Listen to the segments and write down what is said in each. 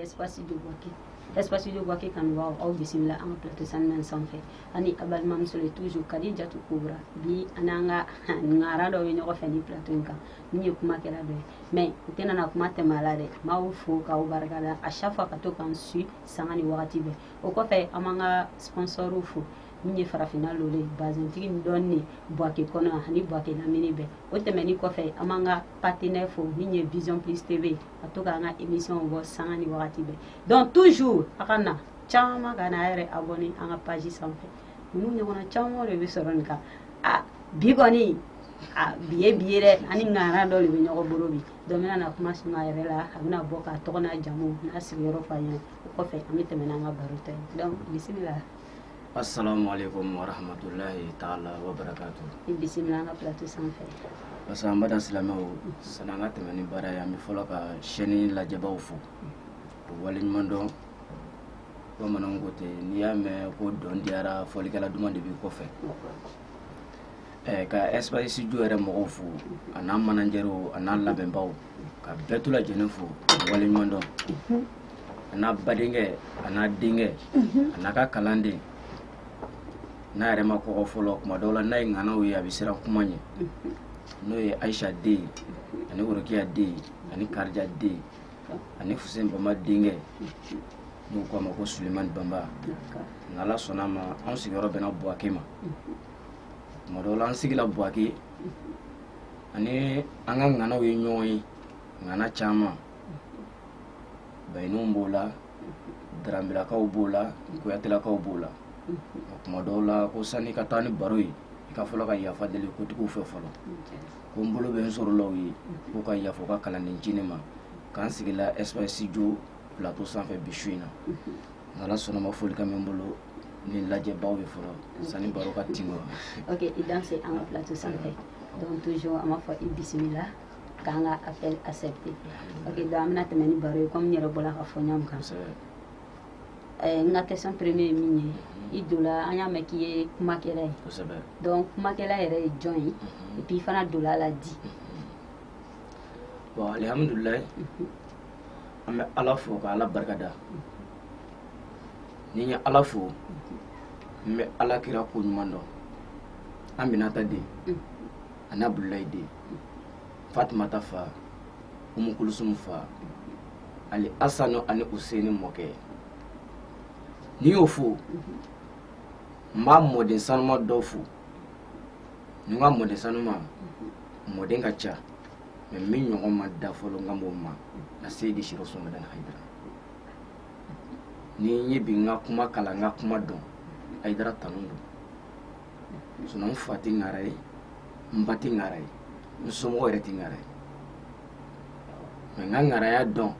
espace de Bouaké. Espace de Bouaké kanubaw aw bisimila an ka plateau saniman sanfɛ an ni aw balimamuso le toujours kadijatu kobra bi an n'an ka ngara dɔ bɛ ɲɔgɔn fɛ nin plateau in kan min ye kumakɛla dɔ ye mais u tɛna na kuma tɛmɛ a la dɛ n b'aw fo k'aw barika da à chaque fois ka to k'an su sanga ni wagati bɛɛ o kɔfɛ an b'an ka sponsorw fo min ye farafinna lolo ye bazintigi min dɔnnen ne buwake kɔnɔ yan ani buwake lamini bɛɛ o tɛmɛni kɔfɛ an b'an ka partenaire fo min ye vision plus tv ka to k'an ka émission bɔ sanga ni wagati bɛɛ donc toujours a ka na caman ka na a yɛrɛ abonné an ka page sanfɛ ninnu ɲɔgɔnna caman de bɛ sɔrɔ nin kan a bi kɔni a bi ye bi ye dɛ an ni ŋana dɔ de bɛ ɲɔgɔn bolo bi dɔ bɛna na kuma suma a yɛrɛ la a bɛna bɔ k'a tɔgɔ n'a jamu n'a sigiyɔrɔ fɔ aw ɲɛna o kɔfɛ an bɛ tɛmɛ n'an ka baro ta ye donc bisimila Assalamu alaikum wa rahmatullahi ta'ala wa barakatuh. I bisimila an ka plateau sanfɛ. Parce que an baden silamɛw sani an ka tɛmɛ ni baara ye an bɛ fɔlɔ ka chaîne lajɛbaw fo u waleɲuman dɔn bamananw ko ten n'i y'a mɛn ko dɔn diyara fɔlikɛla duman de b'i kɔfɛ Ka espace jo yɛrɛ mɔgɔw fo a n'a manajɛri a n'a labɛnbaw ka bɛɛ tu lajɛlen fo waleɲuman dɔn a n'a badenkɛ a n'a denkɛ a n'a ka kalanden n'a yɛrɛ ma kɔgɔ fɔlɔ kuma dɔw la n'a ye ŋanaw ye a bɛ siran kuma ɲɛ n'o ye ayisa den ye ani worokiya den ye ani karija den ani fuse banba denkɛ n'u k'a ma ko suleman banba n'ala sɔnna a ma anw sigiyɔrɔ bɛnna buwake ma tuma dɔw la an sigila buwake an ni an ka ŋanaw ye ɲɔgɔn ye ŋana caman bayininw b'o la daranbilakaw b'o la kuyatelakaw b'o la tuma dɔw la ko sani ka taa ni baro ye i ka fɔlɔ ka yafa deli kotigiw fɛ fɔlɔ ko n bolo bɛ n soro la aw ye k'u ka yafa u ka kalanden ncinin ma k'an sigila espace jo plateau sanfɛ bi su in na n'ala sɔnna a ma folikan bɛ n bolo ni lajɛbaw ye fɔlɔ sani baro ka tin kɔnɔ ok i danse an ka plateau sanfɛ donc toujours an b'a fɔ i bisimila k'an ka appel accepté ok donc an bɛna tɛmɛ ni baro ye comme n yɛrɛ bɔla k'a fɔ ɲɔgɔn kan eh, n ka question premier ye min ye i dola an y'a mɛn k'i ye kumakɛla ye donc kumakɛla yɛrɛ ye jɔn ye et puis i fana donna a la di bon alhamdulilayi an bɛ ala fo ka ala barika da ni n ye ala fo n bɛ ala kira ko ɲuman dɔn aminata den ani abudulayi den fatumata fa umu kulusumu fa ani asanu ani useni mɔkɛ ni n y'o fo n b'a mɔden sanuma dɔ fo ni n ko mɔden sanuma mɔden ka ca mɛ min ɲɔgɔn ma da fɔlɔ n kan b'o ma aseyidi serifu usumani madani hayidara ni ye bi n ka kuma kalan n ka kuma dɔn hayidara tanu don sinɔn n fa tɛ ŋara ye n ba tɛ ŋara ye n somɔgɔ yɛrɛ tɛ ŋara ye mɛ n ka ŋaraya dɔn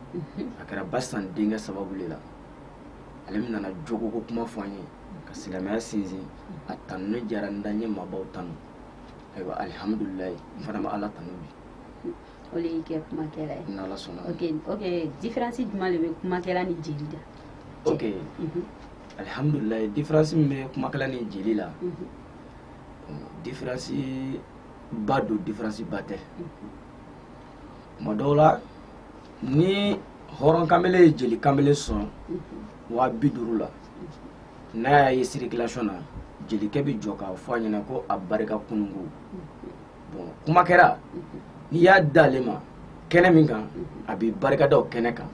a kɛra basan denkɛ sababu de la ale min nana jogo ko kuma fɔ an ye ka silamɛya sinsin a tanuni diyara n da n ye maabaw tanu ayiwa alihamudulilayi n fana bɛ ala tanu bi o de y'i kɛ kumakɛla ye n'ala sɔnna ok ok différence jumɛn de bɛ kumakɛla ni jeli la ok mhm. alhamdulilayi différence min bɛ kumakɛla ni jeli la mhm. différence ba don différence ba tɛ mhm. tuma dɔw la ni hɔrɔn kanbele ye jeli kanbele sɔn waa bi duuru la n'a y'a ye circulation na jelikɛ bɛ jɔ k'a fɔ a ɲɛna ko a barika kununko kumakɛla n'i y'a d'ale ma kɛnɛ min kan a b'i barikada o kɛnɛ kan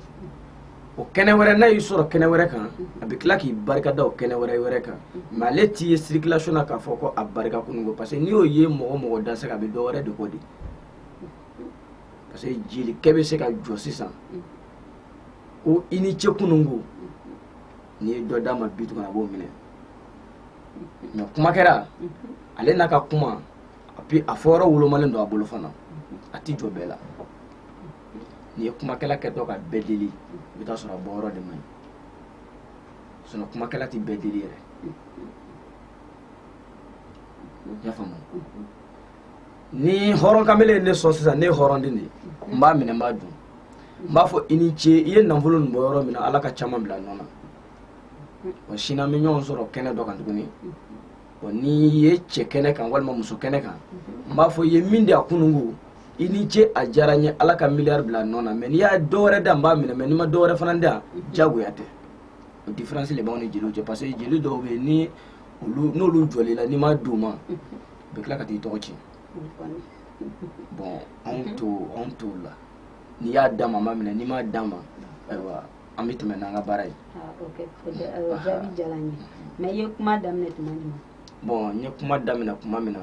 o kɛnɛ wɛrɛ n'a y'i sɔrɔ kɛnɛ wɛrɛ kan a bɛ tila k'i barikada o kɛnɛ wɛrɛ wɛrɛ kan mɛ ale t'i ye circulation na k'a fɔ ko a barika kunun ko parce que n'i y'o ye mɔgɔ o mɔgɔ da c'est que a bɛ dɔ wɛrɛ de kɔ dɛ parce que jelikɛ bɛ se ka jɔ sisan ko i ni ce kunun ko n'i ye dɔ d'a ma bi tuguni a b'o minɛ mɛ kumakɛla ale n'a ka kuma et puis a fɔ yɔrɔ wolomalen don a bolo fana a tɛ jɔ bɛɛ la n'i ye kumakɛla kɛtɔ ka bɛɛ deli i bɛ taa sɔrɔ a bɔ yɔrɔ de man ɲi sinɔn kumakɛla tɛ bɛɛ deli yɛrɛ i y'a faamu ni hɔrɔn kamele ye ne sɔn sisan ne ye hɔrɔn den de ye n b'a minɛ n b'a dun n b'a fɔ i ni ce i ye nafolo nin bɔ yɔrɔ min na ala ka caman bila a nɔ na wa sini an bɛ ɲɔgɔn sɔrɔ kɛnɛ dɔ kan tuguni bon n'i ye cɛ kɛnɛ kan walima muso kɛnɛ kan n b'a fɔ i ye min di a kununko i ni ce a diyara n ye ala ka miliyari bila a nɔ na mɛ n'i ye dɔ wɛrɛ di n b'a minɛ mɛ n'i ma dɔ wɛrɛ fana di diyagoya tɛ o diferansi de b'anw ni jeliw cɛ parce que jeli dɔw bɛ yen ni olu n'olu jɔl'i la n'i m'a d'u ma u bɛ tila ka t'i tɔgɔ tiɲɛ bon anw t'o anw t'o la n'i y'a d'an ma an b'a minɛ n'i m'a d'an ma ayiwa an bɛ tɛmɛ n'an ka baara ye jaabi diyara n ye mɛ i ye kuma daminɛ tuma min na bɔn n ye kuma daminɛ tuma min na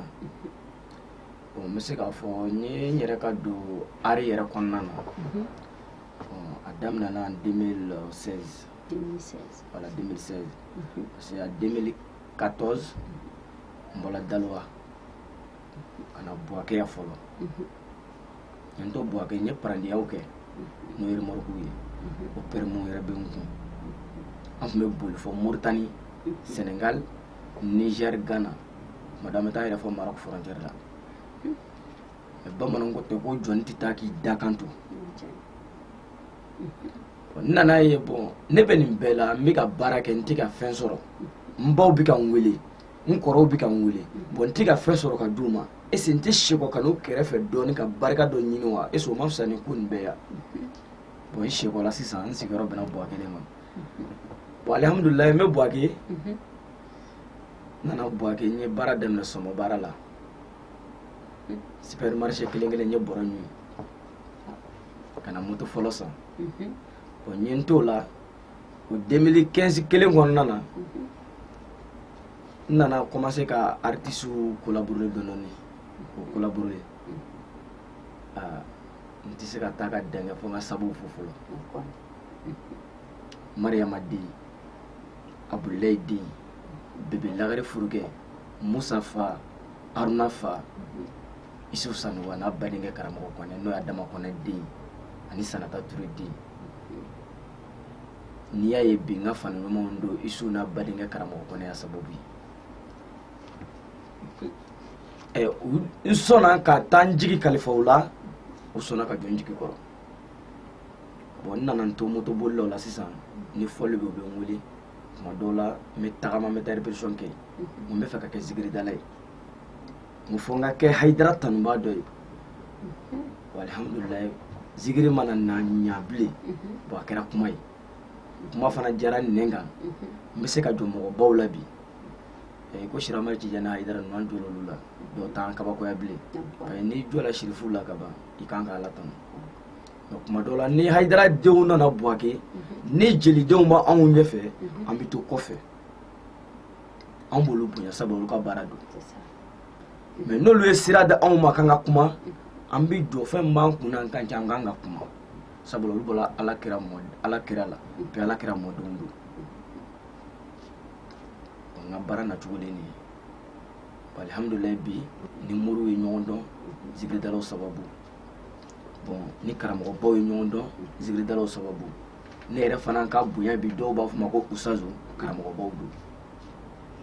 n bɛ se k'a fɔ n ye n yɛrɛ ka don ari yɛrɛ kɔnɔna na bɔn a daminɛna 2016 wala 2016 parce que a 2014 n bɔra dalowa ka na buwake yan fɔlɔ n to buwake n ye parandiyaw kɛ n'o ye remɔruku ye o pɛrɛmu yɛrɛ bɛ n kun an tun bɛ boli fɔ moritani senegal niger ghana tuma dɔ an bɛ taa yɛrɛ fɔ maroc frontière la mɛ bamananw ko ten ko jɔni tɛ taa k'i dakan to n nana ye bɔn ne bɛ nin bɛɛ la n bɛ ka baara kɛ n tɛ ka fɛn sɔrɔ n baw bɛ ka n wele n kɔrɔw bɛ ka n wele bɔn n tɛ ka fɛn sɔrɔ ka d'u ma ese n tɛ sekɔ ka n'u kɛrɛfɛ dɔɔnin ka barika dɔ ɲini wa ese o ma fisa ni ko nin bɛɛ yan bɔn n sekɔla sisan n sigiyɔrɔ bɛnna buwake ne ma bɔn alihamudulila n bɛ buwake n nana buwake n ye baara daminɛ sɔmɔ baara la supermarché kelen kelen n ye bɔrɔ ɲun ka na moto fɔlɔ san bɔn n ye n t'o la o denmili kɛnsi kelen kɔnɔna na n nana kɔmanse ka aritisiw kolabore dɔɔnin dɔɔnin u kolaborelen n tɛ se ka taa ka dɛngɛ fo n ka sabuw fo fɔlɔ mariyama den abudulayi den bebe lagare furukɛ musa fa haruna fa isu sanɔgɔ n'a badenkɛ karamɔgɔ kɔnɛ n'o y'adama kɔnɛ den ani sanata ture den n'i y'a ye bi n ka fani ɲumanw don isu n'a badenkɛ karamɔgɔ kɔnɛ y'a sababu ye ɛ n sɔnna ka taa n jigi kalifa u la u sɔnna ka jɔ n jigi kɔrɔ bɔn n nana n to moto bolilaw la sisan ni fɔli bɛ u bɛ n wele tuma dɔw la n bɛ tagama n bɛ taa répétition kɛ n bɛ fɛ ka kɛ zikiridala ye fo n ka kɛ hayidara tanubaa dɔ ye alihamudulila zikiri ma na na ɲa bilen bɔn a kɛra kuma ye kuma fana diyara nɛn kan n bɛ se ka jɔ mɔgɔbaw la bi i ko sirama tijani hayidara ninnu an jɔl'olu la dɔw t'an kabakoya bilen n'i jɔla sirifu la ka ban i kan k'ala tanu kuma dɔw la ni hayidara denw nana buwake ni jelidenw b'anw ɲɛfɛ an bɛ to kɔfɛ anw b'olu bonya sabu olu ka baara don mɛ n'olu ye sira d'anw ma k'an ka kuma an bɛ jɔ fɛn b'an kun na an kan an kan ka kuma sabula olu bɔra ala kira mɔ ala kira la bɛ ala kira mɔdenw don n ka baara nacogo de nin ye alihamdulilayi bi n ni moriw ye ɲɔgɔn dɔn zikiridalaw sababu bɔn n ni karamɔgɔbaw ye ɲɔgɔn dɔn zigiridalaw sababu ne yɛrɛ fana ka bonya bi dɔw b'a fɔ n ma ko usitazu karamɔgɔbaw don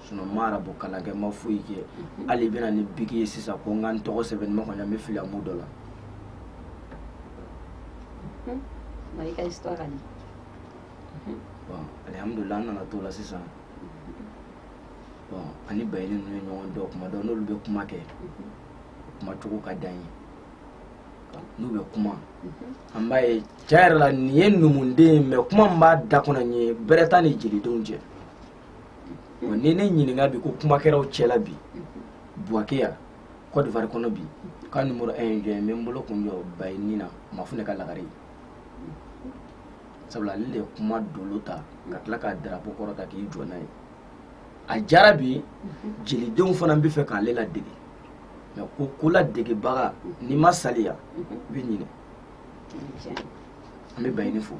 sinɔn n ma arabu kalan kɛ n ma foyi kɛ hali i bɛ na ni biki ye sisan ko n ka n tɔgɔ sɛbɛn ma kɔni an bɛ fili amu dɔ la mari ka histoire ani bɔn alihamudulila an nana t'o la sisan bɔn ani bayini ninnu ye ɲɔgɔn dɔn kuma dɔn n'olu bɛ kuma kɛ kumacogo ka d'an ye n'u bɛ kuma an b'a ye cɛ yɛrɛ la nin ye numuden mɛ kuma min b'a da kɔnɔ nin ye bɛrɛ t'a ni jelidenw cɛ wa ni ne ɲininka bi ko kumakɛlaw cɛla bi buwake yan kɔdivari kɔnɔ bi ko numero 1 ye jɔn n bɛ n bolo kun jɔ bayini na mafunɛ ka lagare sabula ale de ye kuma dolo ta ka tila ka darapo kɔrɔta k'i jɔ n'a ye a jara bi ye jelidenw fana b'a fɛ k'ale ladege mais ko ko ladegebaga n'i ma saliya i bɛ ɲinɛ an bɛ bayini fo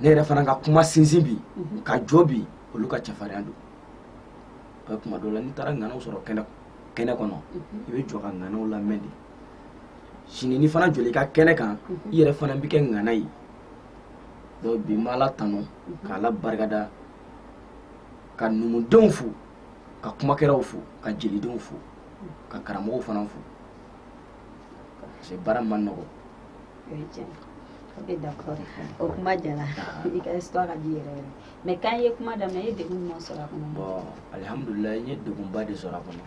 ne yɛrɛ fana ka kuma sinsin bi ka jɔ bi olu ka cɛfarinya don ka kuma dɔ la n'i taara ŋanaw sɔrɔ kɛnɛ kɛnɛ kɔnɔ i bɛ jɔ ka ŋanaw lamɛn de sini n'i fana jɔla i ka kɛnɛ kan i yɛrɛ fana bɛ kɛ ŋana ye donc bi n b'ala tanu ka ala barikada ka numudenw fo ka kumakɛlaw fo ka jelidenw fo ka karamɔgɔw fana fo parce baara man nɔgɔn o kuma jala ah. i ka histoire ka di yɛrɛ yɛrɛ mais quand i ye kuma daminɛ i ye degun jumɛn sɔrɔ a kɔnɔ bon alhamdulillah n ye degunba de sɔrɔ a kɔnɔ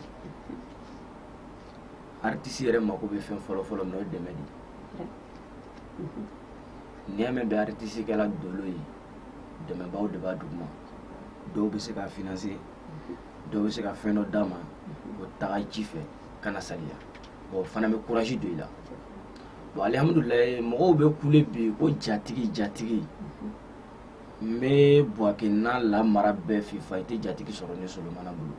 artiste yɛrɛ mako bɛ fɛn fɔlɔ fɔlɔ min na o ye dɛmɛ de ye n'i y'a mɛn bi aritisi kɛla dolo ye dɛmɛbaaw de b'a duguma dɔw bɛ se ka finanse dɔw bɛ se ka fɛn dɔ d'a ma ko taga ji fɛ kana saliya o fana bɛ kuraji don i la bon alihamudulilayi mɔgɔw bɛ kule bi ko jatigi jatigi n bɛ buwake n'a lamara bɛɛ fifa i tɛ jatigi sɔrɔ ne solomana bolo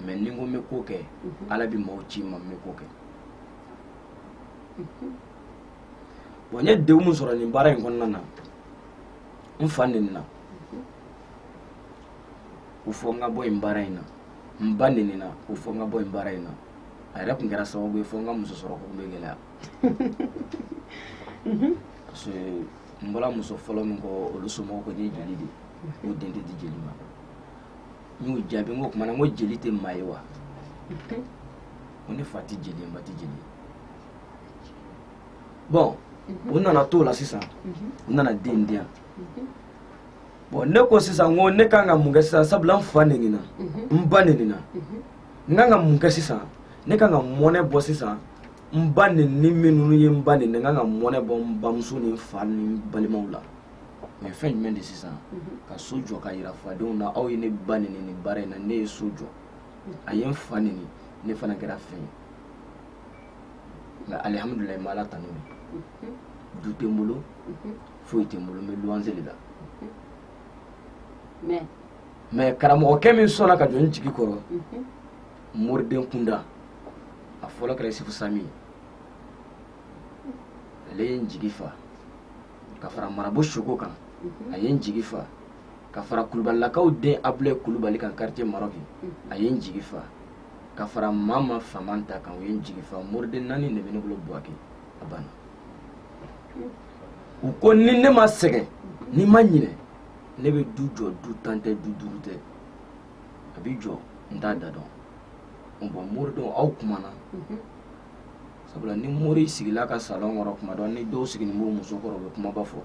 mɛ ni n ko n bɛ ko kɛ ala bɛ mɔgɔw ci n ma n bɛ ko kɛ bon n ye degun min sɔrɔ nin baara in kɔnɔna na n fa nenina ko fo n ka bɔ nin baara in na n ba nenina ko fo n ka bɔ nin baara in na a yɛrɛ tun kɛra sababu ye fo n ka muso sɔrɔko in bɛ gɛlɛya parce que n bɔra muso fɔlɔ min kɔ olu somɔgɔw ko n ye jeli de ye u den tɛ di jeli ma n y'u jaabi n ko o tuma na n ko jeli tɛ maa ye wa ko ne fa tɛ jeli ye n ba tɛ jeli ye bɔn u nana t'o la sisan u nana den di yan bɔn ne ko sisan ko ne kan ka mun kɛ sisan sabula n fa nenina n ba nenina n kan ka mun kɛ sisan ne kan ka mɔnɛ bɔ sisan n ba nenini minnu ye n ba neni n kan ka mɔnɛ bɔ n bamuso ni n fa ni n balimaw la mɛ fɛn jumɛn de sisan ka so jɔ ka yira fadenw na aw ye ne ba neni nin baara in na ne ye so jɔ a ye n fa neni ne fana kɛra fɛn ye nka alihamudulayi n bɛ ala tanu de du tɛ n bolo foyi tɛ n bolo n bɛ luwanse de la mɛ karamɔgɔkɛ min sɔnna ka jɔ n jigi kɔrɔ moriden kunda a fɔlɔ kɛra isufu sami ye ale ye n jigi fa ka fara marabout soko kan a ye n jigi fa ka fara kulubalilakaw den abulɛ kulubali kan karitiye marɔki a ye n jigi fa ka fara mama famanta kan o ye n jigi fa moriden naani de bɛ ne bolo buwake a banna u ko ni ne ma sɛgɛn ni ma ɲinɛ ne bɛ du jɔ du tan tɛ du duuru tɛ a bɛ jɔ n t'a da dɔn bɔn moridenw aw kumana sabula ni mori sigila ka salon kɔrɔ kuma dɔn ni dɔw sigilen b'u muso kɔrɔ bɛ kumaba fɔ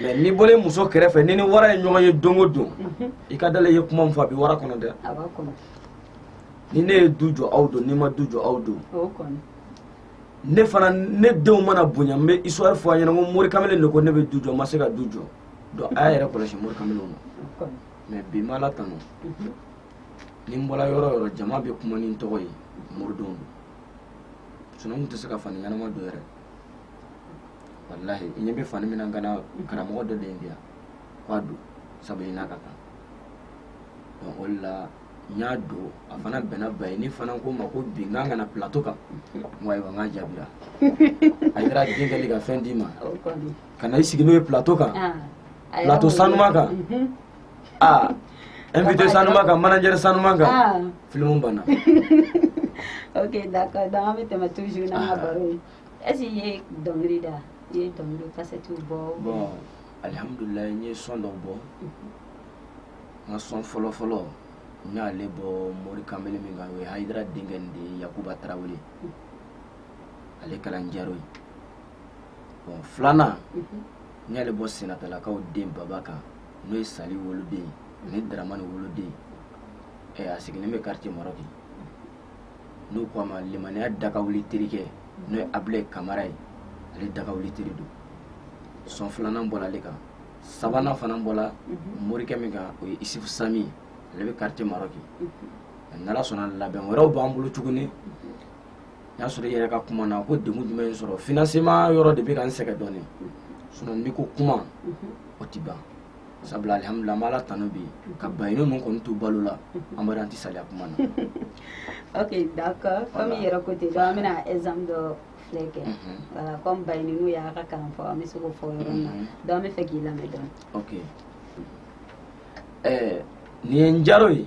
mɛ n'i bɔlen muso kɛrɛfɛ n'i ni wara ye ɲɔgɔn ye don o don mhm. i ka dala ye kuma min fɔ a bɛ wara kɔnɔ dɛ ni ne ye du jɔ aw don ni n ma du jɔ aw don ne fana ne denw mana bonya n bɛ histoire fɔ a ɲɛna ko mori kamalen de ko ne bɛ du jɔ n ma se ka du jɔ donc a y'a yɛrɛ kɔlɔsi mori kamalenw na mɛ bi n bɛ ala tanu mhm. ni n bɔra yɔrɔ yɔrɔ jama bɛ kuma ni n tɔgɔ ye moridenw don sinɔn n tun tɛ se ka fani ɲɛnama don yɛrɛ walahi i ɲɛ bɛ fani min na n kan na karamɔgɔ dɔ de y'a di yan k'a don sabu i n'a ka kan donc o de la n y'a don a fana bɛnna bayini fana ko n ma ko bi n kan ka na plateau kan n ko ayiwa n k'a jaabira a kɛra dɔnkili ka fɛn d'i ma o kɔni ka na i sigi n'o ye plateau kan ah, plateau sanuma kan mhm. aa invité sanuma kan manager sanuma kan ah. filimu banna ok d'accord donc an bɛ tɛmɛ toujours n'an ka ah. baro ye est ce que i ye dɔnkili da i ye dɔnkili kasɛtiw bɔ bon alihamudulilayi n ye son dɔw bɔ mhm. n ka son fɔlɔ fɔlɔ n y'ale bɔ mori kanbele min kan o ye hayidara denkɛ nin de ye yakuba tarawele mhm. ale kalan jaro ye bon filanan n y'ale bɔ sinetalakaw den baba kan n'o ye sali woloden ani daramani woloden ɛ a sigilen bɛ quartier marɔki n'u ko a ma limaniya dagawuli terikɛ n'o ye abulayi kamara ye ale dagawuli teri don sɔn filanan bɔra ale kan sabanan fana bɔra morikɛ min kan o ye isufu sami ye ale bɛ quartier marɔki n'ala sɔnna labɛn wɛrɛw b'an bolo tuguni o y'a sɔrɔ i yɛrɛ ka kuma na ko degun jumɛn sɔrɔ financement yɔrɔ de bɛ ka n sɛgɛn dɔɔnin sinɔn n'i ko kuma o tɛ ban sabula alihamudulila an bɛ ala tanu bi ka baɲini ninnu kɔni to balo la an b'a dɔn an tɛ saliya kuma na ok d'accord comme i yɛrɛ ko ten donc an bɛna exemple dɔ filɛ kɛ voilà comme baɲiniw y'a ka kalan fɔ an bɛ se k'o fɔ yɔrɔ min na donc an bɛ fɛ k'i lamɛn dɔɔnin ok ɛɛ nin ye n jaro ye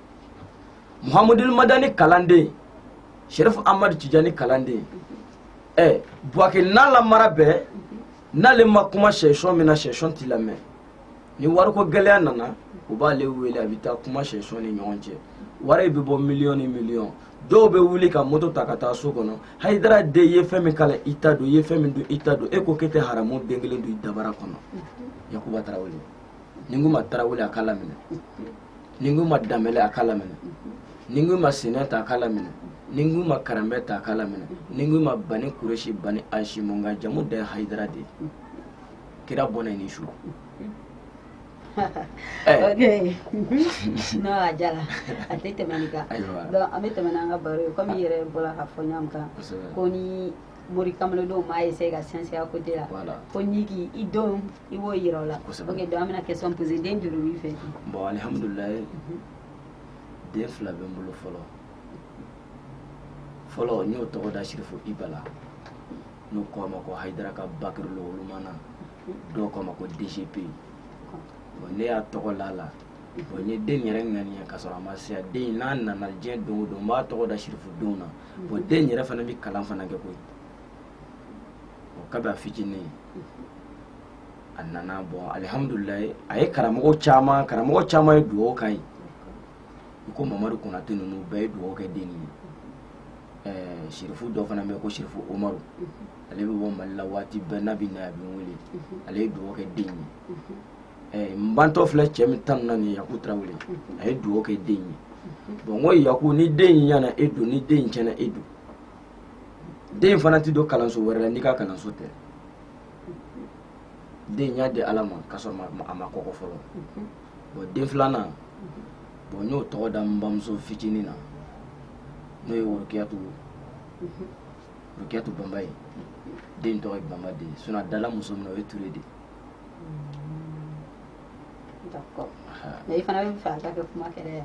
muhamudul madani kalanden sherifu amadu tijani kalanden ɛ eh, buwake n'a lamara bɛɛ n'ale ma kuma section min na section t'i lamɛn ni wariko gɛlɛya nana u b'ale wele a bɛ taa kuma section ni ɲɔgɔn cɛ wari bɛ bɔ miliyɔn ni miliyɔn dɔw bɛ wuli ka moto ta ka taa so kɔnɔ hayidara de ye fɛn min kala i ta don i ye fɛn min dun i ta don e ko k'e tɛ haramu den kelen don i dabara kɔnɔ yakuba tarawele ni n ko ma tarawele a k'a laminɛ ni n ko ma danbele a k'a laminɛ ni n ko ma sineta a k'a laminɛ ni n ko ma karanbɛta a k'a laminɛ ni n ko ma bani kuresi bani hasimu min ka jamu da ye hayidara de ye kira bɔnɛ ni su eh. no a jala a tɛ tɛmɛni kan an bɛ tɛmɛ n'an ka baro ye komi i yɛrɛ bɔra k'a fɔ ɲɔgɔn kan ko ni mori kamalendenw m'a essayer ka sinsin a côté la voilà. ko n'i k'i i denw i b'o yira o la kosɛbɛ ok donc an bɛna question poser den joli b'i fɛ bon alihamudulilayi mhm. den fila bɛ n bolo fɔlɔ fɔlɔ n y'o tɔgɔ da sirifu iba la n'u k'a ma ko hayidara ka bakiri lowolomana mhm. dɔw k'a ma ko dgp bon ne y'a tɔgɔ la la bon n ye den yɛrɛ ŋaniya k'a sɔrɔ a ma se yan den n'a nana diɲɛ don o don n b'a tɔgɔ da sirifudenw na bon den yɛrɛ fana bɛ kalan fana kɛ koyi o kabi a fitinin a nana bon alihamudulilayi a ye karamɔgɔ caman karamɔgɔ caman ye dugawu k'a ye i ko mamadu konate ninnu bɛɛ ye dugawu kɛ den ye ɛɛ sirifu dɔ fana bɛ ko sirifu umaru ale bɛ bɔ mali la waati bɛɛ n'a bɛ na a bɛ n wele ale ye dugawu kɛ den ye n bantɔ filɛ cɛ min tan na nin yaku tarawele a ye dugawu kɛ den ye bɔn n ko yaku ni den in ɲana e don ni den in tiɲɛna e don den fana tɛ don kalanso wɛrɛ la n'i ka kalanso tɛ den y'a di ale ma k'a sɔrɔ a ma kɔgɔ fɔlɔ bɔn den filanan bɔn n y'o tɔgɔ da n bamuso fitinin na n'o ye worokiyatu worokiyatu banba ye den tɔgɔ ye banba de ye sinɔn a dala muso min na o ye ture de ye i fana bɛ fɛ ka kɛ kumakɛla ye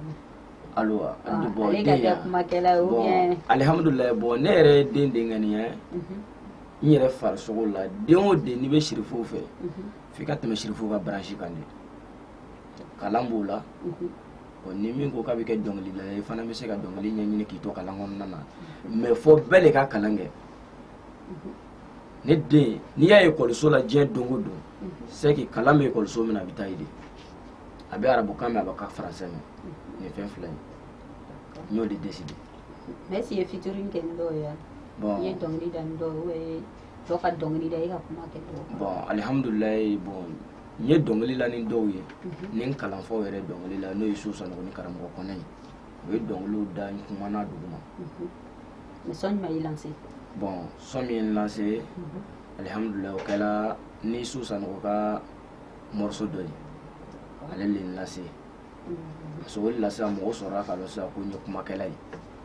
wa, ayiwa ale ka kɛ kumakɛla ye ou bien alihamudulayi bɔn ne yɛrɛ ye den de ŋaniya n yɛrɛ farisogo la den o den n'i bɛ sirifuw fɛ f'i ka tɛmɛ sirifuw ka branche kan de kalan b'o la ɔ ni min ko k'a bɛ kɛ dɔnkilidala ye i fana bɛ se ka dɔnkili ɲɛɲini k'i to kalan kɔnɔna na mais fɔ bɛɛ de ka kalan kɛ ne den n'i y'a ye ekɔliso la diɲɛ don o don c'est que kalan bɛ ekɔliso min na a bɛ taa yen de a bɛ arabukan mɛn a bɛ ka faransɛ mɛn nin fɛn fila in n y'o de deside mɛ si ye featuring kɛ ni dɔw ye bɔn i ye dɔnkili da ni dɔw ye ubiyɛn i ye dɔ ka dɔnkili da i ka kuma kɛ dɔw kan bɔn alihamudulilayi bɔn n ye dɔnkili la ni dɔw ye ni n kalanfaw yɛrɛ dɔnkili la n'o ye su sanɔgɔ ni karamɔgɔ kɔnɛ ye u ye dɔnkiliw da n kumana dugu ma mais sɔn jumɛn y'i lanse bon sɔn min ye n lanse alihamudulila o kɛra ni su sanɔgɔ ka morceau dɔ ye ale le n lase parce que o de la sisan mɔgɔw sɔrɔla k'a dɔn sisan ko n ye kumakɛla ye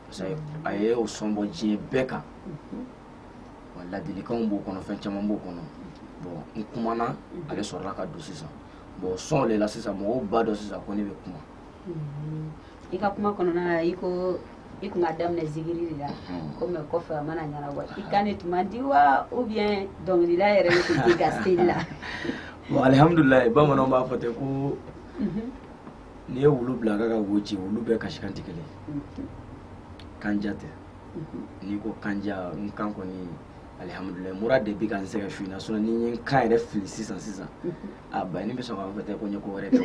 parce que a ye o sɔn bɔ diɲɛ bɛɛ kan wa ladilikanw b'o kɔnɔ fɛn caman b'o kɔnɔ bon n kumana ale sɔrɔla ka don sisan bon sɔn de la sisan mɔgɔw b'a dɔn sisan ko ne bɛ kuma i ka kuma kɔnɔna na i ko i tun k'a daminɛ zikiri de la comme kɔfɛ a ma na ɲɛnabɔ i kan le tun man di wa ou bien dɔnkilila yɛrɛ de tun ka se i la bon alihamudulila bamananw b'a fɔ ten ko n'i ye wulu bila ka ka wo ci wulu bɛɛ kasi kan tɛ kelen kanja tɛ n'i ko kanja n kan kɔni alihamudulila mura de bi ka n sɛgɛn fina na sinɔn ni n ye n kan yɛrɛ fili sisan sisan a bayani bɛ sɔn k'a fɔ tɛ ko n ye ko wɛrɛ kɛ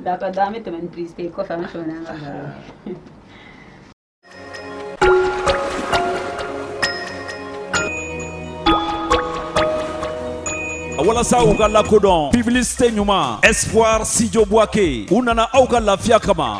d'accord an bɛ tɛmɛ publicité kɔfɛ an bɛ tɛmɛ n'an ka baro walasa u ka lakodɔn publicité ɲuman espoir studio buake u nana aw ka lafiya kama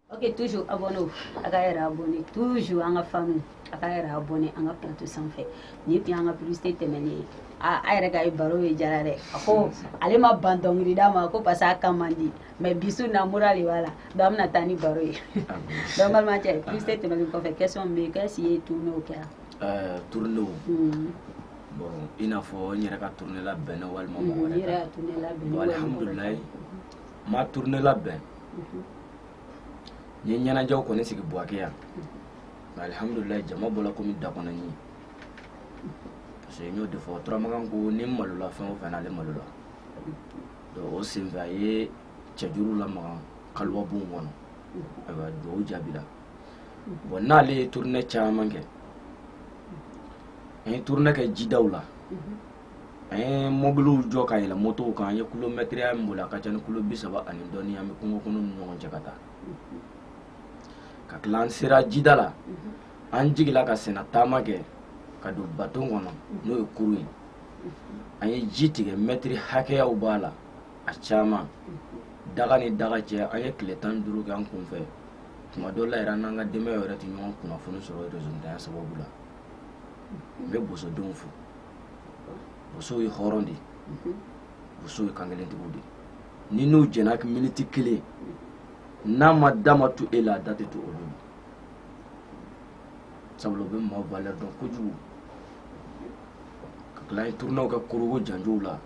Ok, toujours abonné a ka yɛrɛ abonné toujours an ka fanw a ka yɛrɛ abonné an ka plateau sanfɛ nin tun y'an ka publicité tɛmɛnen ye a a yɛrɛ ka ye baro ye jara dɛ a ko ale ma ban dɔnkili da ma ko parce que a kan man di mais bi su in na mura de b'a la donc an bɛna taa ni baro ye donc balimakɛ publicité tɛmɛnen kɔfɛ question bɛ yen k'est-ce i ye tournew kɛra euh, tournew hmm. bon i n'a fɔ n yɛrɛ ka tourne labɛnna walima mɔgɔ wɛrɛ kan alhamdulilayi n ma tourne labɛn n ye ɲɛnajɛw kɔni sigi buwake yan nka alihamudulilayi jama bɔla komi dakɔnɔni ye parce que n y'o de fɔ turamakan ko ni n malola fɛn o fɛn na ale malola donc o senfɛ a ye cɛjuru lamaga kaluwa bon kɔnɔ ayiwa duwawu jaabila bon n'ale ye tournée caman kɛ an ye tournée kɛ jidaw la an ye mɔbiliw jɔ ka yɛlɛ motow kan an ye kulomɛtiriya min boli a ka ca ni kulo bi saba ani dɔɔni an bɛ kungo kɔnɔ ni ɲɔgɔn cɛ ka taa ka tila an sera jida la an jigila ka senna taama kɛ ka don baton kɔnɔ n'o ye kurun ye an ye ji tigɛ mɛtiri hakɛyaw b'a la a caman daga ni daga cɛ an ye tile tan ni duuru kɛ an kunfɛ tuma dɔ la yɛrɛ an n'an ka denbayaw yɛrɛ tɛ ɲɔgɔn kunnafoni sɔrɔ rezontanya sababu la n bɛ bosodenw fo bosow ye hɔrɔn de ye bosow ye kankelentigiw de ni n'u jɛna miniti kelen n'a ma da ma to e la a da tɛ to olu ma sabula u bɛ maaw valeur dɔn kojugu ka tila ye tournew kɛ korogo janjow la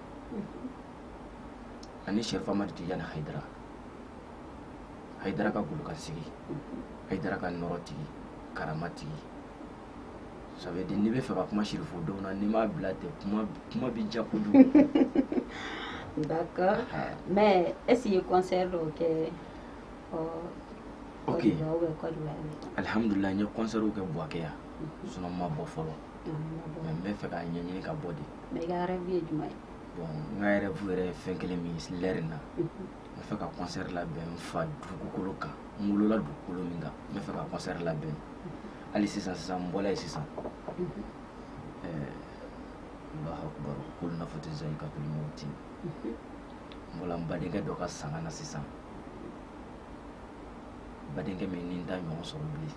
ani serifu amadi tijani hayidara hayidara ka golokansigi hayidara ka nɔrɔ tigi karama tigi ça veut dire ne bɛ fɛ ka kuma siri fo don na n'i m'a bila ten kuma bɛ janya kojugu d'accord ah. mais est-ce que concert dɔw kɛ ɔ ok alihamudulila n ye concert kɛ buwakɛ yan mhm. sinon n ma bɔ fɔlɔ mais n bɛ fɛ k'a ɲɛɲini ka bɔ de mais i ka rêve ye jumɛn ye bon n ka rêve yɛrɛ ye fɛn kelen min ye lɛri in na mhm. n bɛ fɛ ka concert labɛn n fa dugukolo kan n wolola dugukolo min kan n bɛ fɛ ka concert labɛn hali sisan sisan n bɔla yen sisan Allahu akbar kullu nafsin zaikatul mauti n bɔla n badenkɛ dɔ ka sanga na sisan badenkɛ min ni n t'a ɲɔgɔn sɔrɔ bilen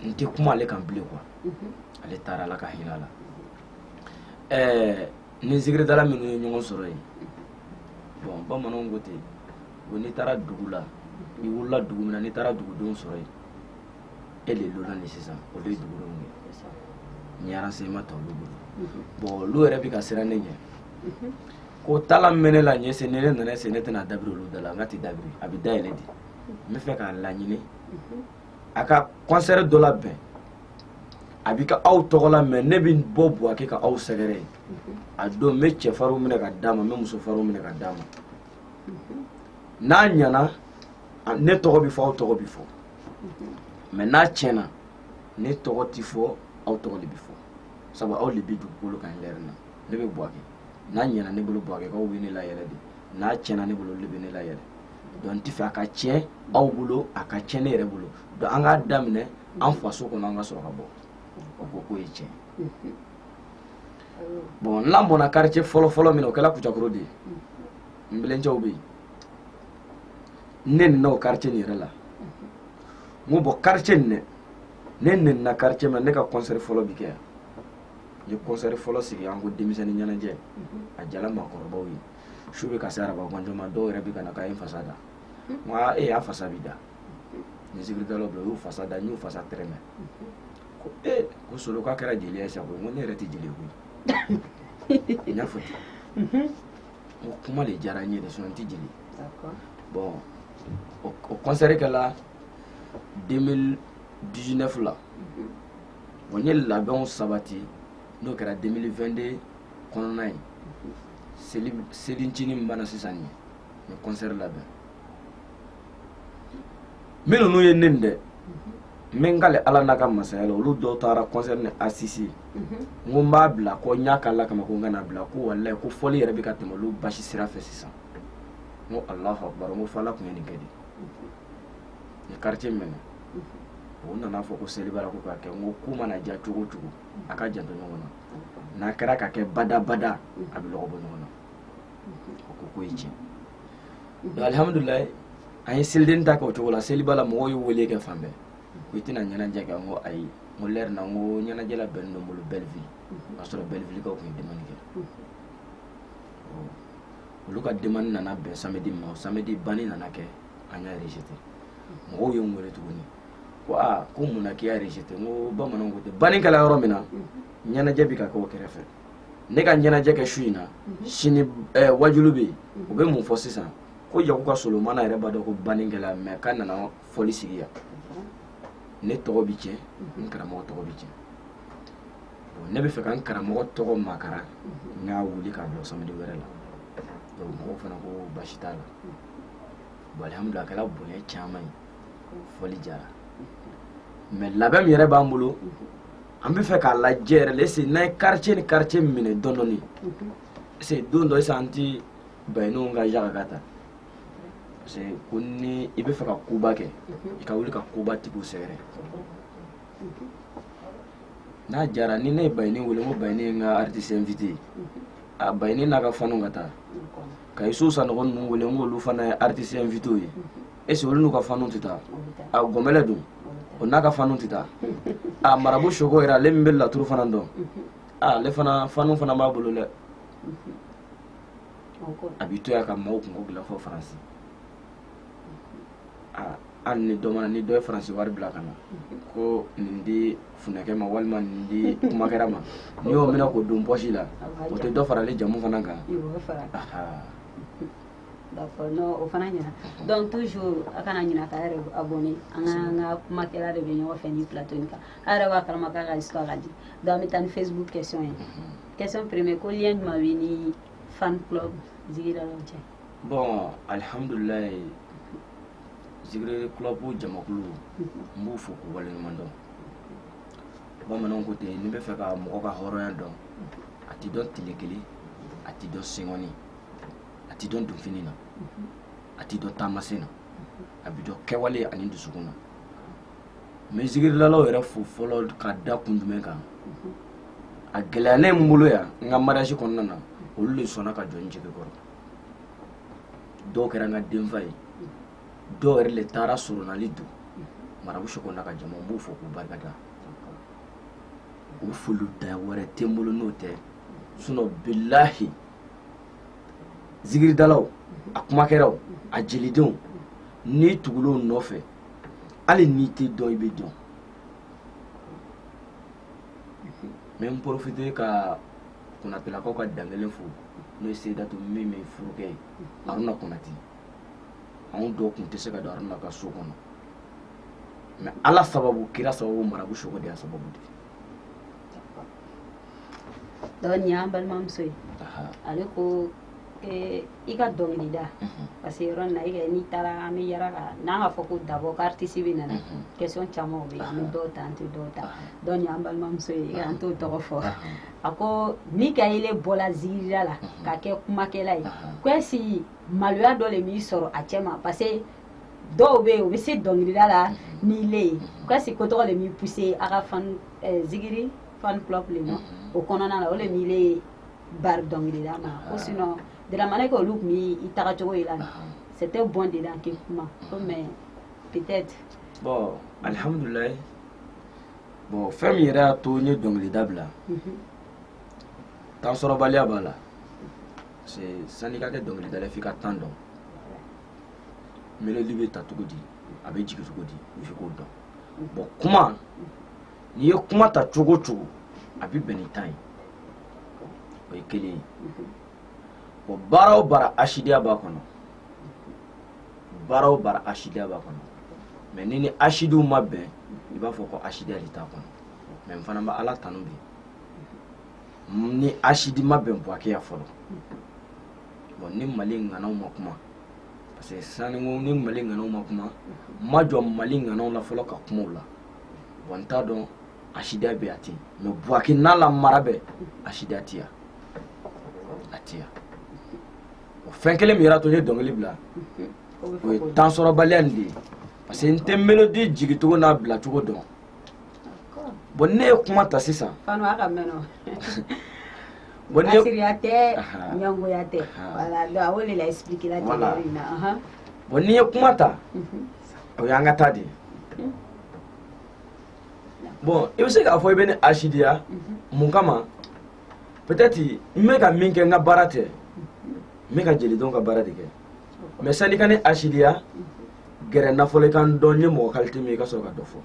n tɛ kuma ale kan bilen quoi ale taara ala ka hinɛ a la ni zikiridala minnu ye ɲɔgɔn sɔrɔ yen bɔn bamananw ko ten ko n'i taara dugu la i wulila dugu min na n'i taara dugudenw sɔrɔ yen e le lonan ni sisan o de ye dugudenw ye n ye renseignement ta olu bolo bɔn olu yɛrɛ bɛ ka siran ne ɲɛ ko talent min bɛ ne la est-ce ni ne nana se ne tɛna dabiri olu da la nka a ti dabiri a bɛ dayɛlɛ de n bɛ fɛ k'a laɲini a ka kɔnsɛri dɔ labɛn a bi kɛ aw tɔgɔ la mɛ ne bɛ bɔ buwake ka aw sɛgɛrɛ a don n bɛ cɛfarinw minɛ ka d'a ma n bɛ musofarinw minɛ ka d'a ma n'a ɲɛna ne tɔgɔ bɛ fɔ aw tɔgɔ bɛ fɔ mɛ n'a tiɲɛna ne tɔgɔ tɛ fɔ aw tɔgɔ de bɛ fɔ sabu aw de bɛ dugukolo kan nin lɛri na ne bɛ buwake n'a ɲɛna ne bolo buwakekaw bɛ ne layɛlɛ de n'a tiɲɛna ne bolo olu de bɛ ne layɛlɛ donc n tɛ fɛ a ka tiɲɛ aw bolo a ka tiɲɛ ne yɛrɛ bolo donc an k'a daminɛ an faso kɔnɔ an ka sɔrɔ ka bɔ o ko k'o ye tiɲɛ ye bon n'an bɔnna quartier fɔlɔfɔlɔ min na o kɛra kucakoro de ye n belencɛw bɛ yen ne nana o quartier nin yɛrɛ la n ko bɔn quartier nin dɛ ne nenina quartier min na ne ka concert fɔlɔ bi kɛ yan ye kɔnsɛri fɔlɔ sigi an ko denmisɛnnin ɲɛnajɛ a jala maakɔrɔbaw ye su bɛ ka se araba ganjɔ ma dɔw yɛrɛ bɛ ka na k'a ye fasa da nka e y'a fasa bi da ni zikiridalaw bɛɛ y'u fasa da n y'u fasa tɛrɛmɛ ko ee ko solo k'a kɛra jeli ye sa n ko ne yɛrɛ tɛ jeli koyi n y'a fɔ ten ko kuma de diyara n ye de sinɔn n tɛ jeli bɔn o kɔnsɛri kɛla 2019 la an ye labɛnw sabati n'o kɛra 2022 kɔnɔna ye seli selincinin min banna sisan nin ye n kɔnsɛri labɛn min ninnu ye ne dɛ n bɛ n kali ala n'a ka masaya la olu dɔw taara kɔnsɛri nin asisite n ko n b'a bila ko n y'a k'ala kama ko n kana bila ko walayi ko fɔli yɛrɛ bɛ ka tɛmɛ olu basi sira fɛ sisan n ko alahu akubar n ko fo ala tun ye nin kɛ de quartier min na o nana fɔ ko seliba la ko ka kɛ n ko ko mana ja cogo cogo a ka janto ɲɔgɔn na n'a kɛra ka kɛ badabada a bɛ lɔgɔ bɔ ɲɔgɔn na o ko k'o ye tiɲɛ donc alihamudulilayi an ye seliden ta kɛ o cogo la seliba la mɔgɔw ye n wele kɛ fan bɛɛ ko i tɛna ɲɛnajɛ kɛ n ko ayi n ko lɛri na n ko ɲɛnajɛ labɛnnen don n bolo bɛlivili o y'a sɔrɔ bɛlivilikaw tun ye demani kɛ olu ka demani nana bɛn samedi ma o samedi banni nana kɛ an y'a rejeté mɔgɔw ye n wele tuguni ko aa ko mun na k'i y'a rejeté n ko bamananw ko ten banni kɛla yɔrɔ min na ɲɛnajɛ bɛ ka kɛ o kɛrɛfɛ ne ka ɲɛnajɛ kɛ su in na sini ɛɛ waajuli bɛ yen u bɛ mun fɔ sisan ko yaku ka solomana yɛrɛ b'a dɔn ko banni kɛla mɛ k'a nana fɔli sigi yan ne tɔgɔ bɛ tiɲɛ n karamɔgɔ tɔgɔ bɛ tiɲɛ donc ne bɛ fɛ ka n karamɔgɔ tɔgɔ makara n k'a wuli k'a bila samedi wɛrɛ la donc mɔgɔw fana ko baasi t'a la bon alhamdulilah a kɛra bonya caman ye fɔli jara mɛ labɛn min yɛrɛ b'an bolo an bɛ fɛ k'a lajɛ yɛrɛ le ese n'an ye quartier ni quartier minɛ dɔɔni dɔɔni ese don dɔ sisan an ti bayininw ka yaga ka ta parce que ko ni i bɛ fɛ ka koba kɛ i ka wuli ka koba tigiw sɛgɛrɛ n'a jara ni ne ye bayini wele ko bayini ye n ka artiste invité a bayini n'a ka faniw ka taa ka Isu Sanɔgɔ ninnu wele n k'olu fana ye aritisi invité ye ese olu n'u ka fanu tɛ taa a gɔnbɛlɛ dun o n'a ka fanu tɛ taa a marabu soko yɛrɛ ale min bɛ laturu fana dɔn a ale fana fanu fana b'a bolo dɛ a b'i to yan ka maaw kunko dilan fo faransi hali ni dɔ mana ni dɔ ye faransi wari bila ka na ko nin di funɛkɛ ma walima nin di kumakɛra ma n'i y'o minɛ k'o don pɔsi la o tɛ dɔ farali jamu fana kan d'accord non o fana ɲɛna donc toujours a kana ɲina k'a yɛrɛ abonné an ka an ka kumakɛla de bɛ ɲɔgɔn fɛ nin plateau in kan a yɛrɛ b'a kalama k'a ka histoire ka di donc an bɛ taa ni facebook question ye question premier ko lien jumɛn b'i ni fan club zikirilaw cɛ bɔn alihamudulilayi zikiri kulɔbu jamakulu n b'u fo k'u waleɲuman dɔn bamananw ko ten n'i bɛ fɛ ka mɔgɔ ka hɔrɔnya dɔn a ti dɔn tile kelen a ti dɔn senkɔni a ti dɔn donfini na a ti dɔn taamasen na a bi dɔn kɛwale ani dusukun na n bɛ zikirilalaw yɛrɛ fo fɔlɔ ka da kun jumɛn kan a gɛlɛyalen n bolo yan n ka mariage kɔnɔna na olu de sɔnna ka jɔ n jigi kɔrɔ dɔw kɛra n ka denfa ye dɔw yɛrɛ le taara surunali don marabu soko n'a ka jama n b'u fo k'u barika da u foli da wɛrɛ tɛ n bolo n'o tɛ sinon bilahi zikiridalaw a kumakɛraw a jelidenw n'i tugula o nɔfɛ hali n'i tɛ dɔn i bɛ dɔn n bɛ n porofite ka Konatelakaw ka den kelen furu n'o ye Seyidatu min min furukɛ ye Haruna Konate anw dɔw tun tɛ se ka don Haruna ka so kɔnɔ mais Ala sababu kira sababu marabu soko de y'a sababu di donc nin y'an balimamuso ye ale ko Ee i ka dɔnkili da parce que yɔrɔ na i n'i taara an bɛ yɛrɛ kan n'an b'a fɔ ko dabɔ karitisi bɛ nana question caman bɛ an bɛ dɔw ta an tɛ dɔw ta donc an balimamuso ye an t'o tɔgɔ fɔ a ko ni ka ye bɔra zikiriya la ka kɛ kumakɛla ye ko si maloya dɔ de b'i sɔrɔ a cɛ ma parce que dɔw bɛ yen u bɛ se dɔnkilida la ni le ye ka si ko tɔgɔ de b'i pousser a ka zikiri fan fila ma o kɔnɔna na o de ye bari dɔnkilida ma ko sinon dramane ko olu tun y'i taga cogo yi la c'était bon de la ke kuma ko mais peut-être bon alhamdulillah bon fɛn min yɛrɛ y'a to n ye dɔnkilida bila temps sɔrɔbaliya b'a la parce que sani i ka kɛ dɔnkilidala f'i ka temps dɔn melodi bɛ ta cogo di a bɛ jigin cogo di f'i k'o dɔn bon kuma n'i ye kuma ta cogo o cogo a bɛ bɛn ni temps ye o ye kelen ye wa baara o baara asidiya b'a kɔnɔ baara o baara asidiya b'a kɔnɔ mais ni ni asidiw ma bɛn i b'a fɔ ko asidiya de t'a kɔnɔ mais n fana bɛ ala tanu bi ni asidi ma bɛn buwake yan fɔlɔ bon ni mali ŋanaw ma kuma parce que saniko ni mali ŋanaw ma kuma ma jɔ mali ŋanaw la fɔlɔ ka kuma u la bon n t'a dɔn asidiya bɛ a ten mais buwake n'a la mara bɛɛ asidiya tɛ yan a tɛ yan o fɛn kelen min yɛrɛ y'a to n ye dɔnkili bila o ye temps sɔrɔbaliya nin de ye parce que n tɛ melodi jigicogo n'a bilacogo dɔn bon ne ye kuma ta sisan bon ne asidiya tɛ ɲɛngoya tɛ voilà donc a o de la expliquer la tɛ voilà bon n'i ye kuma ta o y'an ka taa de bon i bɛ se k'a fɔ i bɛ ne asidiya mun kama peut-être n bɛ ka min kɛ n ka baara tɛ n bɛ ka jeliden ka baara de kɛ mais sani i ka ne asidiya gɛrɛ n na fɔlɔ i ka n dɔn n ye mɔgɔ kalite min ye i ka sɔrɔ ka dɔ fɔ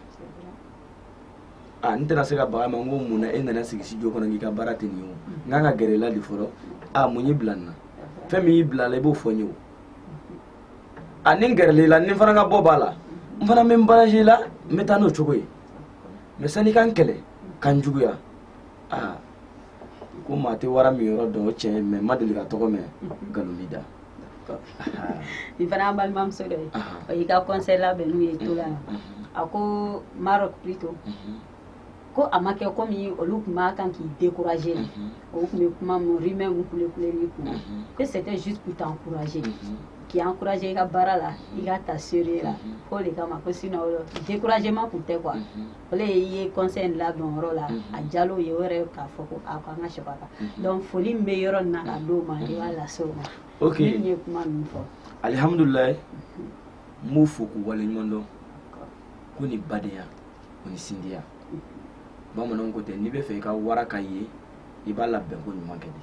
a n tɛna se ka baga ma n ko mun na e nana sigi studio kɔnɔ k'i ka baara tɛ nin ye o n kan ka gɛrɛ i la de fɔlɔ a mun y'i bila nin na fɛn min y'i bila la i b'o fɔ n ye o ani n gɛrɛl'i la ni n fana ka bɔ b'a la n fana bɛ n baraji la n bɛ taa n'o cogo ye mais sani i ka n kɛlɛ ka n juguya aa ko maa tɛ wara minyɔrɔ dɔn o tiɲɛ ye mais n ma deli ka tɔgɔ mɛn nkalon b'i da nin fana an balimamuso dɔ ye o y'i ka kɔnsɛri labɛn n'u ye to la a ko Maroc plutôt ko a ma kɛ komi olu tun b'a kan k'i décourager mhm. o tun bɛ kuma min rumeur min kulekule i kun na mhm. que c'était juste pour t'encourager mhm. k'i encourager i ka baara la i k'a ta sérieux la k'o de kama ko sinon découragement tun tɛ quoi o de ye i ye conseil in labɛn yɔrɔ la a jalo ye o yɛrɛ k'a fɔ ko a ko an ka sɛbɛ a kan donc foli min bɛ yɔrɔ nin na ka d'o ma i b'a lase o ma ok min ye kuma ninnu fɔ alihamudulilayi n b'u fo k'u waleɲuman dɔn ko nin badenya o ni sinjiya bamananw ko tɛ n'i bɛ fɛ i ka wara ka ye i b'a labɛnko ɲuman kɛ de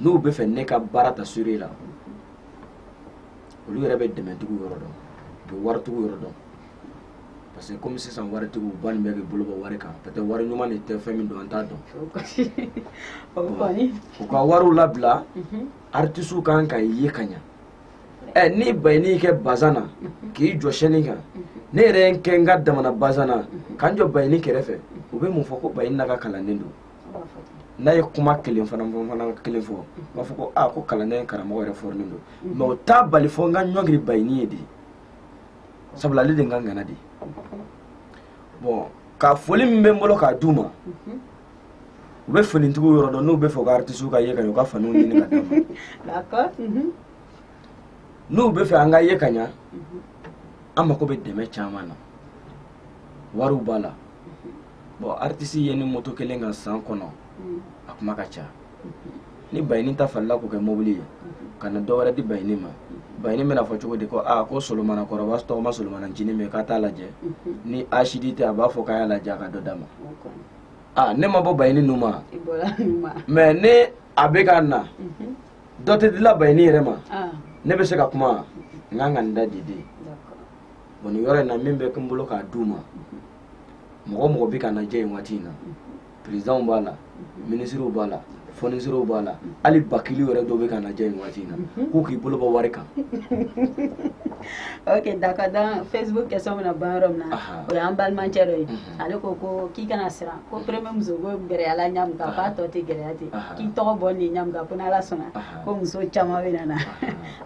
n'u bɛ fɛ ne ka baara ta sérieux la olu yɛrɛ bɛ dɛmɛtigiw yɔrɔ dɔn u bɛ waritigiw yɔrɔ dɔn parce que komi sisan waritigiw bannen bɛ k'u bolo bɔ wari kan peut être wari ɲuman de tɛ fɛn min don an t'a dɔn u ka wariw labila artisiw kan an ka ye ka ɲa ɛ ni bayini y'i kɛ bazan na k'i jɔ scène kan ne yɛrɛ ye n kɛ n ka damana bazan na ka n jɔ bayini kɛrɛfɛ u bɛ mun fɔ ko bayini n'a ka kalanden don n'a ye kuma kelen fana fɔ fana kelen fɔ u b'a fɔ ko aa ko kalanden karamɔgɔ yɛrɛ fɔrinen don mais o t'a bali fo n ka ɲɔngiri bayini ye de sabula ale de n ka ŋana de bɔn ka foli min bɛ n bolo k'a d'u ma u bɛ finitigiw yɔrɔ dɔn n'u bɛ fɛ ka artisiw ka ye ka ɲɛ u ka faniw ɲini ka d'an ma mhm. n'u bɛ fɛ an ka ye ka ɲɛ mhm. an mako bɛ dɛmɛ caman na wariw b'a la mhm. bɔn artisi yeli moto kelen kan san kɔnɔ a kuma ka ca ni bayini ta falenna k'o kɛ mobili ye ka na dɔ wɛrɛ di bayini ma bayini bɛna a fɔ cogo di ko aa ko solomana kɔrɔba tɔgɔma solomana ncinin min k'a t'a lajɛ ni asidi tɛ a b'a fɔ k'a y'a lajɛ a ka dɔ d'a ma aa ne ma bɔ bayini nu ma i bɔra nin ma mais ni a bɛ ka na Mhm. dɔ tɛ dila bayini yɛrɛ ma ah ne bɛ se ka kuma wa? n ka kan ka n da de dɛ d'accord bɔn nin yɔrɔ in na min bɛ n bolo k'a d'u ma mɔgɔ mɔgɔ bɛ k'an lajɛ nin waati in na perezidanw b'a la minisiriw b'a la fɔnkisiyɔnɛriw b'a la hali bakili yɛrɛ dɔ bɛ k'an lajɛ nin waati in na mhm. k'u k'u bolo bɔ wari kan ok d'accord donc facebook kɛsiyɔnw bɛna ban yɔrɔ min na o y'an balimacɛ dɔ ye mhm. ale ko ko k'i kana siran ko premier musoko gɛlɛyala ɲamu kan k'a tɔ tɛ gɛlɛya ten k'i tɔgɔ bɔ nin ɲamu kan ko n'ala sɔnna ko muso caman bɛna na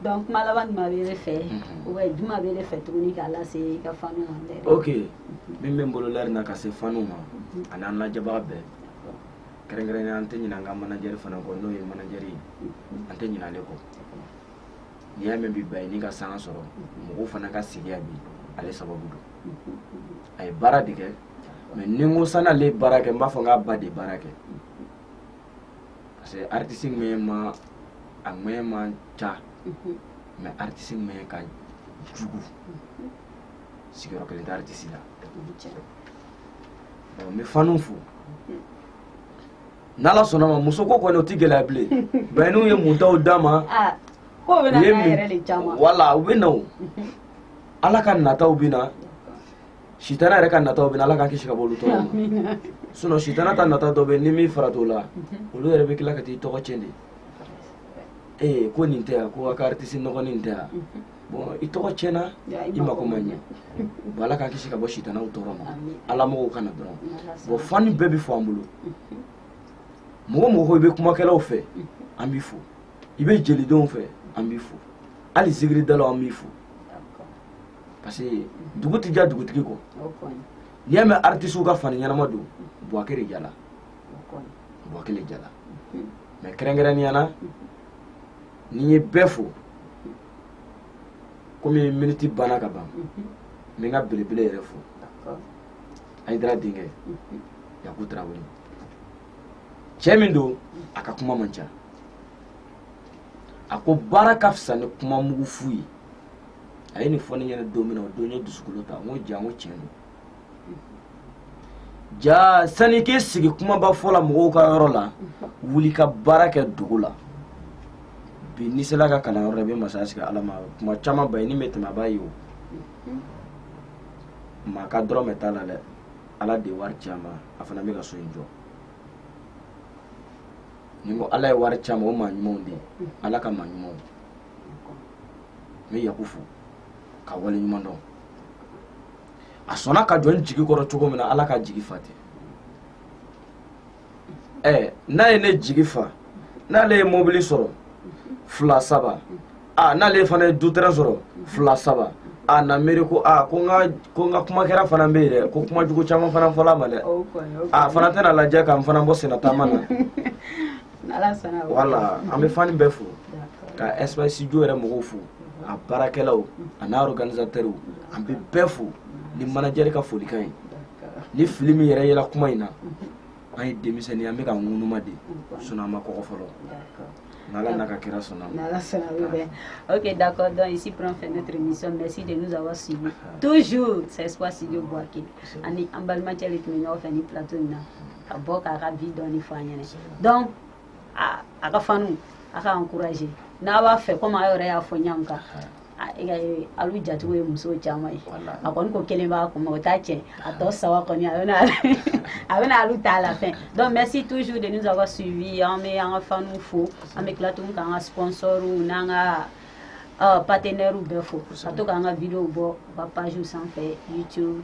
donc kuma laban jumɛn bɛ e fɛ mhm. ou bien jumɛn bɛ e fɛ tuguni k'a lase i ka fanw ma ok min bɛ n bolo lɛri in na ka se fanw ma ani an lajɛbaga bɛɛ kɛrɛnkɛrɛnya an tɛ ɲinɛ an ka manajɛri fana kɔ n'o ye manajɛri an tɛ ɲinɛ ale kɔ n'i y'a mɛn bi bayini ka sanga sɔrɔ mɔgɔw fana ka sigiya bi ale sababu don a ye baara de kɛ mais ni n ko sani ale ye baara kɛ n b'a fɔ n k'a ba de ye baara kɛ parce que aritisi ŋɛɲɛma a ŋɛɲɛ man ca mais aritisi ŋɛɲɛ ka jugu sigiyɔrɔ kelen tɛ aritisi la n bɛ faniw fo n'ala sɔnna ma muso ko kɔni o tɛ gɛlɛya bilen baɲiniw ye muntaw d'a ma wala u bɛ na o ala ka nataw bɛ na sitana yɛrɛ ka nataw bɛ na ala k'an kisi ka bɔ olu tɔɔrɔ ma sinɔn sitana ta nata dɔ bɛ ni min fara t'o la olu yɛrɛ bɛ tila ka t'i tɔgɔ tiɲɛ de ee ko nin tɛ yan ko a ka aritisi nɔgɔnin nin tɛ yan bon i tɔgɔ tiɲɛna i mako ma ɲɛ bon ala k'an kisi ka bɔ sitanaw tɔɔrɔ ma ala mɔgɔw ka na dɔrɔn bon fani bɛɛ bɛ fo an bolo mɔgɔ mɔgɔ i bɛ kumakɛlaw fɛ an b'i fo i bɛ jelidenw fɛ an b'i fo hali zikiridalaw an b'i fo parce que dugu tɛ diya dugutigi kɔ n'i y'a mɛn artisiw ka fani ɲɛnama don buwake de diyala buwake de diyala mais kɛrɛnkɛrɛnnenya na ne ye bɛɛ fo komi miniti banna ka ban n bɛ n ka belebele yɛrɛ fo ayidara denkɛ yaku tarawele cɛ min don a ka kuma man ca a ko baara ka fisa ni kuma mugu fu ye a ye nin fɔ ne ɲɛna don min na o don n ye dusukolo ta n ko jaa n ko tiɲɛ don jaa sani k'i sigi kumaba fɔ la mɔgɔw ka yɔrɔ la wuli ka baara kɛ dugu la bi n'i sera a ka kalanyɔrɔ la i bɛ masaya sigi ala ma kuma caman ba ye n'i bɛ tɛmɛ a b'a ye o maa ka dɔrɔmɛ t'a la dɛ ala de ye wari ci a ma a fana bɛ ka so in jɔ n'i ko ala ye wari ci a ma o maa ɲumanw de ye ala ka maa ɲumanw n bɛ yaku fo k'a waleɲuman dɔn a sɔnna ka jɔ n jigi kɔrɔ cogo min na ala k'a jigi fa ten ɛɛ n'a ye ne jigi fa n'ale ye mobili sɔrɔ fila saba a n'ale fana ye du tɛrɛn sɔrɔ fila saba a na miiri ko a ko n ka ko n ka kumakɛla fana bɛ yen dɛ ko kuma jugu caman fana fɔla a ma dɛ a fana tɛn'a lajɛ ka n fana bɔ sennataama na wala an bɛ fani bɛɛ fo ka Espoir Studio yɛrɛ mɔgɔw fo a baarakɛlaw a n'a organisatɛriw an bɛ bɛɛ fo ni manajɛri ka folikan ye ni fili min yɛrɛ yela kuma in na an ye denmisɛnnin an bɛ ka ŋunuma de sinɔn an ma kɔgɔ fɔlɔ N'Allah n'a ka kira sɔnna ma. N'Allah sɔnna o bɛ. Ok d'accord donc ici prend fin notre émission merci de nous avoir suivis toujours c'est Espoir Studio Buake an ni an balimakɛ de tun bɛ ɲɔgɔn fɛ ni plateau in na. ka bɔ k'a ka bi dɔɔni fɔ an ɲɛna donc a ka fanu a k'a encourager n'a b'a fɛ komi a yɛrɛ y'a fɔ yan k'alu jatigiw ye muso caman ye a kɔni ko kelen b'a kun o t'a tiɲɛ a tɔ saba kɔni a bɛna a bɛna alu ta à la fin donc merci toujours de nous avoir suivi an bɛ an ka fanu fo an bɛ tila tuguni k'an ka sponsors n'an ka partenaires bɛɛ fo ka to k'an ka videos bɔ u ka pages sanfɛ YouTube